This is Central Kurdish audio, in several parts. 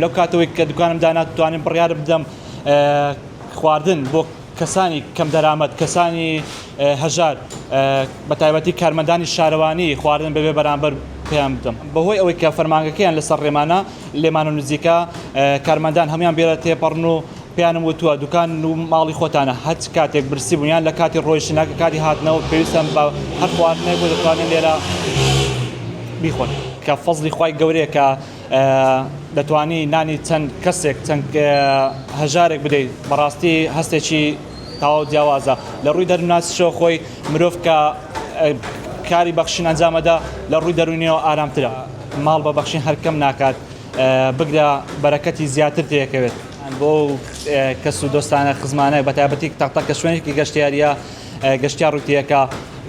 لەو کاتەوەی کە دوکانم دانا توانیم بڕیارم بدەم خواردن بۆ کەسانی کەم دەرامەت کەسانی هەژار بە تایبەتی کارمەندانی شارەوانی خواردن بەبێ بەرامبەر پێیان بدەم بەهۆی ئەوەی کە فەرمانگەکەیان لەسەر ڕێمانە لێمان و نزیکە کارمەندان هەموان بێرە تێپەڕن و پێیانم وتووە دوکان و ماڵی خۆتانە هەچ کاتێک برسی بوون یان لە کاتی ڕۆیشتن یان کاتی هاتنەوە پێویستم بە هەر خواردنێک بۆ دەتوانن لێرە بیخۆن کە فەزڵی خوای گەورەیە کە دەتوانی نانی چەند کەسێک چەند هەژارێک بدەیت بەڕاستی هەستێکی تاو جیاوازە لە ڕووی دەرناسیشەوە خۆی مرۆڤ کە کاری بەخشین ئەنجامەدا لە ڕووی دەرونیەوە ئارامترە ماڵ بە بەخشین هەرکەم ناکات بگرە بەرەکەتی زیاتر تێکەوێت بۆ کەس و دۆستانە خزمانە بە تابەتی تەقتە کە شوێنێکی گەشتیاریە گەشتیار ڕوتیەکە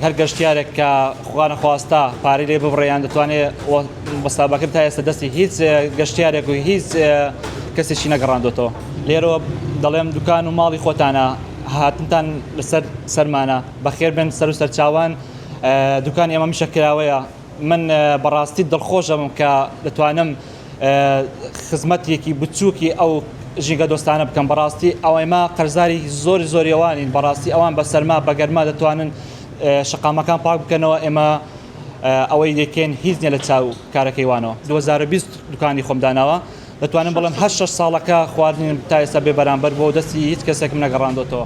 هەر گەشتارێک کە خوانەخواستا پارەی لێ ببڕێیان دەتوانێت بەسابەکرد تا ئێستا دەستی هیچ گەشتارێک و هیچ کەسێکی نەگەڕاندۆتەوە لێرەوە دەڵێم دوکان و ماڵی خۆتانە هاتنتان لەسەر سەرمانە بەخێر بن سەر و سەرچوان دوکان ئێمە میشە کراوەیە من بەڕاستی دڵخۆشەبم کە دەتوانم خزمەتێکی بچووکی ئەو ژینگە دۆستانە بکەم بەڕاستی ئەوەیما قەرزاری زۆری زۆریەوانین بەڕاستی ئەوان بە سەرما بەگەرما دەتوانن شقامەکان پاک بکەنەوە ئێمە ئەوەی دەکەین هیچ نیە لە چاو کارەکەی وانەوە 2020 دوکانی خۆم داناوە دەتوانم بڵم هەر شش ساڵەکە خواردنیم تا ئێستا بێ بەرامبەر بۆ دەستی هیچ کەسێکم نەگەڕاندۆتەوە.